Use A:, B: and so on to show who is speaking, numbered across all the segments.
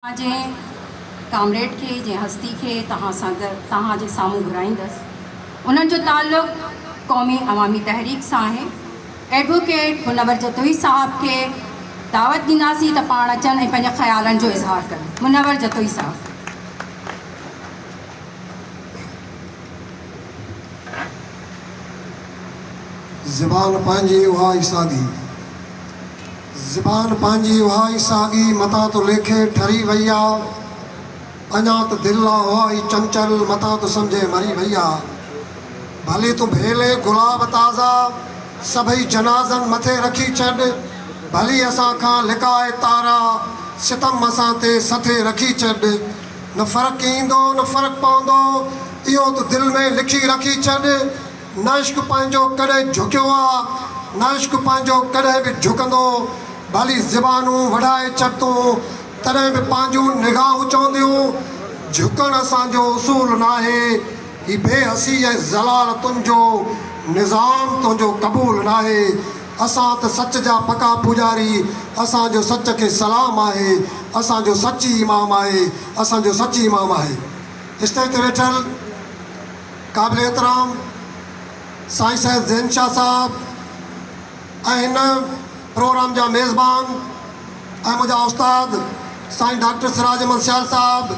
A: مان جنهن ڪامريڊ کي، جنهن هستي کي توهان سان توهان جي سامهون گهرائيندس، انهن جو تعلق قومي عوامي تحريڪ سان آهي. ايڊووڪيٽ منور جتوئي صاحب کي دعوت ڏينداسين ته پاڻ اچن ۽ پنهنجن خيالن جو اظهار ڪن. منور جتوئي صاحب.
B: زبان پنهنجي اها ئي سادي. زبان پنهنجي اها ئي ساڳي متان تو ليکي ٺري وئي آ اڃا ته دل آ اها ئي چنچل متان تو سمجهي مري وئي آ ڀلي تون ڀيلي گلاب تازا سڀئي جنازن مٿي رکي ڇڏ ڀلي اسان کان لڪائي تارا ستم اسان تي سٿي رکي ڇڏ نه فرق ايندو نه فرق پوندو اهو تو دل ۾ لکي رکي ڇڏ. نه عشق پنهنجو ڪڏهن جهڪيو آ، نه عشق پنهنجو ڪڏهن به جهڪندو، ڀلي زبانون وڍائي ڇڏتون، تڏهن به پنهنجون نگاهون چونديون، جهڪڻ اسان جو اصول ناهي، هي بي حسي ۽ ذلالتن جو نظام تنهنجو قبول ناهي، اسان ته سچ جا پڪا پوڄاري، اسان جو سچ کي سلام آهي، اسان جو سچ ئي امام آهي، اسان جو سچ ئي امام آهي. اسٽيج تي ويٺل. قابل احترام سائين سيد زين شاھ صاحب ۽ ھن پروگرام جا ميزبان ۽ منھنجا استاد سائين ڊاڪٽر سراج احمد سيال صاحب،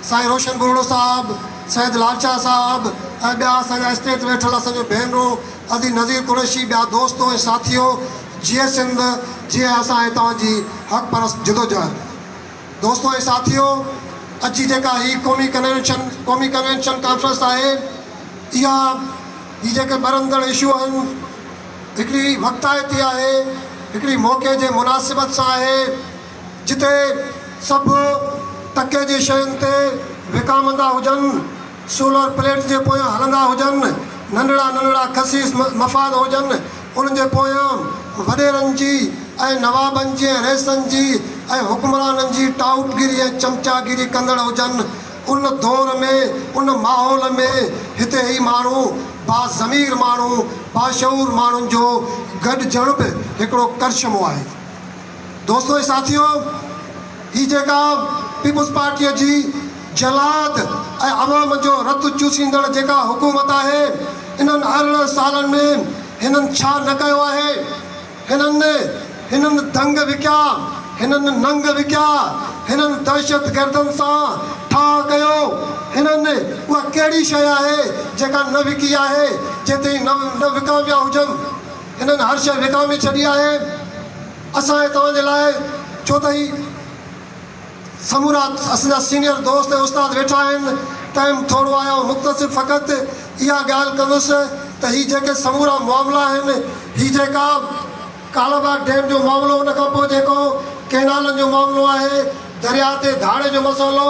B: سائين روشن ٻرڙو صاحب، سيد لال شاھ صاحب ۽ ٻيا اسان جا اسٽيج تي ويٺل اسان جون ڀينرون، عزيز نظير قريشي، ٻيا دوست ۽ ساٿيو، جيئي سنڌ، جيئي اسان ۽ توھان جي حق پرست جدوجهد. دوستو ۽ ساٿيو! اڄ جي جيڪا هي قومي ڪنوينشن قومي ڪنوينشن ڪانفرنس آهي اها هي جيڪي ٻرندڙ اشو آهن هڪڙي وقتائتي آهي هڪڙي موقعي جي مناسبت سان آهي جتي سڀ ٽڪي جي شين تي وڪامندا هجن سولر پليٽس جي پويان هلندا هجن، ننڍڙا ننڍڙا خسيس مفاد هجن، انهن جي پويان وڏيرن جي ۽ نوابن جي ۽ رئيسن جي ۽ حڪمرانن جي ٽائوٽگيري ۽ چمچاگيري ڪندڙ هجن. ان دور ۾، ان ماحول ۾ هتي هي ماڻهو، باضمير ماڻهو، باشعور ماڻهن جو گڏجڻ به هڪڙو ڪرشمو آهي. دوستو ۽ ساٿيو هي جيڪا پيپلز پارٽيء جي جلاد ۽ عوام جو رت چوسيندڙ جيڪا حڪومت آهي انهن ارڙهن سالن ۾ هنن ڇا نه ڪيو آهي هنن هنن دنگ وڪيا هنن ننگ وڪيا هنن دهشت گردن سان ٺاهه ڪيو هنن اها ڪهڙي شيء آهي جيڪا نه وڪي آهي جيتائين نه وڪاميا هجن. هنن هر شيء وڪامي ڇڏي آهي. اسان ۽ توهان جي لاء ڇو ته هي سمورا اسان جا سينئر دوست ۽ استاد ويٺا آهن. ٽائيم ٿورو آهي آئون مختصر فقط اها ڳالهه ڪندس ته هي جيڪي سمورا معاملا آهن، هي جيڪا ڪالا باغ ڊيم جو معاملو، ان کان پوء جيڪو ڪئنالن جو معاملو آهي، درياهه تي ڌاڙي جو مسئلو،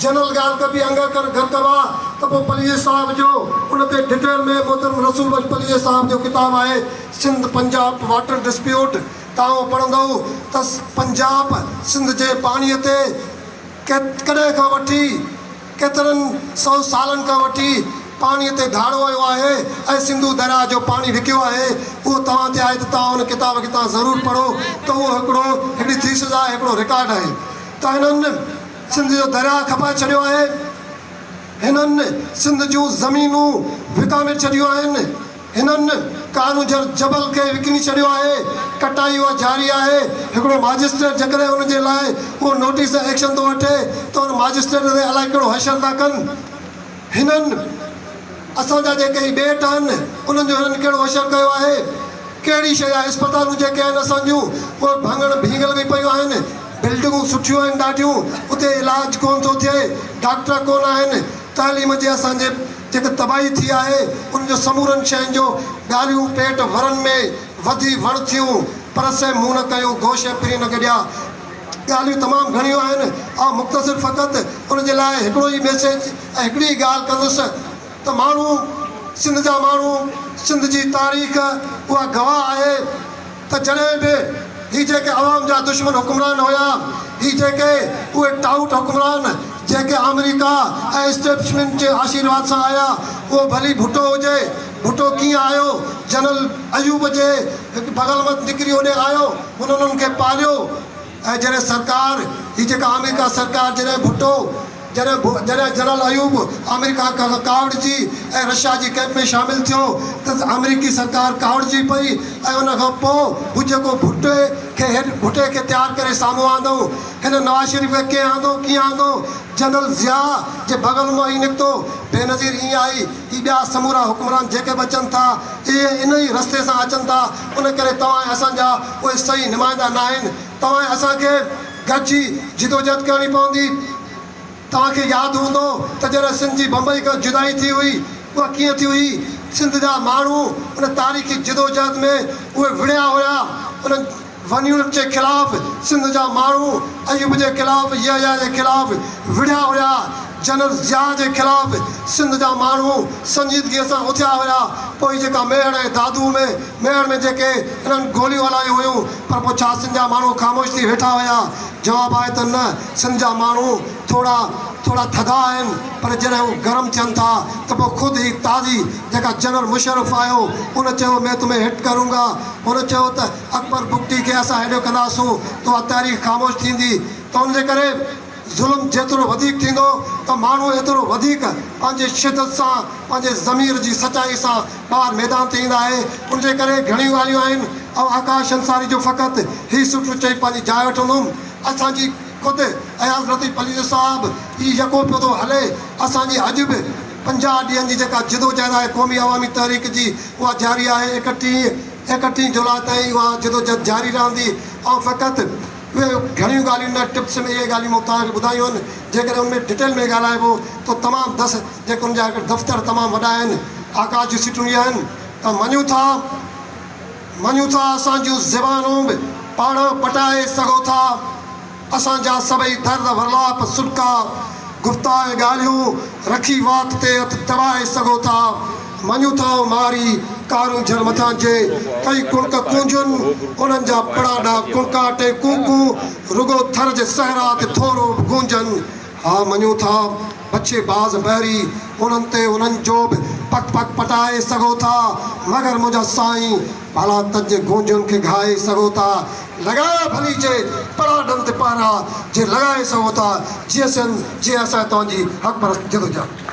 B: جنرل ڳالهه ڪبي انگر ڪر گهر ڪبا ته پوء پليجي صاحب جو ان تي ڊٽيل ۾ محترم رسول بخش پليجي صاحب جو ڪتاب آهي سنڌ پنجاب واٽر ڊسپيوٽ تائون پڙهندؤ ته پنجاب سنڌ جي پاڻي تي ڪڏهن کان وٺي ڪيترن سئو سالن کان وٺي پاڻي تي ڌاڙو هيو آهي ۽ سنڌو درياء جو پاڻي وڪيو آهي اهو توهان تي آهي ته توهان ان ڪتاب کي تان ضرور پڙهو ته اهو هڪڙو هڪڙي ٿيسز آهي هڪڙو رڪارڊ آهي ته هنن سنڌ جو درياهه کپائي ڇڏيو آهي، هنن سنڌ جون زمينون وڪامي ڇڏيون آهن، هنن ڪارونجهر جبل کي وڪڻي ڇڏيو آهي، ڪٽائي اها جاري آهي، هڪڙو ماجسٽريٽ جيڪڏهن ان جي لاء ڪو نوٽيس ۽ ايڪشن ٿو وٺي ته ان ماجسٽريٽ تي الائي ڪهڙو حشر ٿا ڪن. هنن اسان جا جيڪي هي ٻيٽ آهن، انهن جو هنن ڪهڙو حشر ڪيو آهي؟ ڪهڙي شيء جا اسپتالون جيڪي آهن اسان جون، اهي ڀڱڻ ڀينگل ۾ پيون آهن. بلڊنگون سٺيون آهن ڏاڍيون، اتي علاج ڪونه ٿو ٿئي، ڊاڪٽر ڪونه آهن. تعليم جي اسان جي جيڪا تباهي ٿي آهي، ان جو سمورن شين جو ڳالهيون پيٽ ورن ۾ وڌي وڙ ٿيون، پر سي مون نه ڪيون، گوش ۽ پرين نه گڏيا. ڳالهيون تمام گهڻيون آهن، آئون مختصر فقط ان جي لاء هڪڙو ئي ميسيج ۽ هڪڙي ئي ڳالهه ڪندس ته ماڻهو، سنڌ جا ماڻهو، سنڌ جي تاريخ اها گواهه آهي ته جڏهن به هي جيڪي عوام جا دشمن حڪمران هيا، هي جيڪي اهي ٽائوٽ حڪمران جيڪي آمريڪا ۽ اسٽيبلشمينٽ جي آشيرواد سان آيا، اهو ڀلي ڀٽو هجي، ڀٽو ڪيئن آيو؟ جنرل ايوب جي بغل مان نڪري هوڏي آيو. هن انهن کي پاليو ۽ جڏهن سرڪار، هي جيڪا آمريڪا سرڪار جڏهن ڀٽو، جڏهن جڏهن جنرل ايوب آمريڪا کان ڪاوڙجي ۽ رشيا جي ڪئمپ ۾ شامل ٿيو ته آمريڪي سرڪار ڪاوڙجي پئي ۽ ان کان پوء هو جيڪو ڀٽي کي هيٺ ڀٽي کي تيار ڪري سامهون آندو. هن نواز شريف کي ڪئين آندو، ڪيئن آندو، جنرل ضياء جي بغل مان ئي نڪتو، بينظير ائين آهي ته ٻيا سمورا حڪمران جيڪي به اچن ٿا، اهي ان ئي رستي سان اچن ٿا، ان ڪري توهان ۽ اسان جا اهي صحيح نمائندا ناهن، توهان ۽ اسان کي گڏجي جدوجهد ڪرڻي پوندي، توهان کي ياد هوندو ته جڏهن سنڌ جي بمبئي کان جدائي ٿي هئي، اها ڪيئن ٿي هئي، سنڌ جا ماڻهو ان تاريخي جدوجهد ۾ اهي وڙهيا هيا، انهن. ون يونٽ جي خلاف سنڌ جا ماڻهو ايوب جي خلاف يحيٰ جي خلاف وڙهيا هيا جنرل ضياء جي خلاف سنڌ جا ماڻهو سنجيدگي سان اٿيا هيا پوء جيڪا ميهڙ ۽ دادو ۾ ميهڙ ۾ جيڪي انهن گوليون هلايون هيون پر پوء ڇا سنڌ جا ماڻهو خاموش ٿي ويٺا هيا جواب آهي ته نه سنڌ جا ماڻهو ٿورا ٿورا ٿڌا آهن پر جڏهن هو گرم ٿين ٿا ته پوء خود هي تازي جيڪا جنرل مشرف آيو ان چيو مين تمهين هٽ ڪرونگا هن چيو ته اڪبر بگٽي کي اسان هيڏو ڪنداسون ته اها تاريخ خاموش ٿيندي ته ان جي ڪري ظلم جيترو وڌيڪ ٿيندو ته ماڻهو ايترو وڌيڪ پنهنجي شدت سان پنهنجي ضمير جي سچائي سان ٻاهر ميدان تي ايندا اهي ان جي ڪري گهڻيون ڳالهيون آهن آئون آڪاش انصاري جو فقط هي سٽر چئي پنهنجي جاء وٺندم اسان جي خود اياز لطيف پليجو صاحب هي يڪو پيو ٿو هلي اسان جي اڄ به پنجاهه ڏينهن جي جيڪا جدوجهد آهي قومي عوامي تحريڪ جي اها جاري آهي ايڪٽيهين ايڪٽيهين جولاء تائين اها جدوجهد جاري رهندي. آئون فقط اهي گهڻيون ڳالهيون نه ٽپس ۾ اهي ڳالهيون مختار کي ٻڌايون آهن، جيڪڏهن ان ۾ ڊٽيل ۾ ڳالهائبو ته تمام دس جيڪي ان جا دفتر تمام وڏا آهن، آڪاش جون سيٽون اهي آهن ته مڃون ٿا مڃون ٿا اسان جون زبانون به پاڙهان پٽائي سگهو ٿا. اسان جا سڀئي درد ورلاپ، سڏڪا، گفتا ۽ ڳالهيون رکي وات تي هٿ دٻائي سگهو ٿا. مڃون ٿا ۽ ماري ڪارون جهر مٿان جي ڪئي ڪڻڪ ڪونجهن، انهن جا پڙاڏا ڪڻڪاٽ ۽ ڪون ڪون رڳو ٿر جي صحرا تي ٿورو به گونجن. ها مڃون ٿا، بچي باز بحري انهن تي انهن جو به پڪ پڪ پٽائي سگهو ٿا، مگر منهنجا سائين ڀلا تج گونجن کي گهائي سگهو ٿا، لڳايا ڀلي جي پڙا ڏن تي پهرا جي لڳائي سگهو ٿا، جيئسين جيئن اسان توهان جي حق پرست جدوجهد.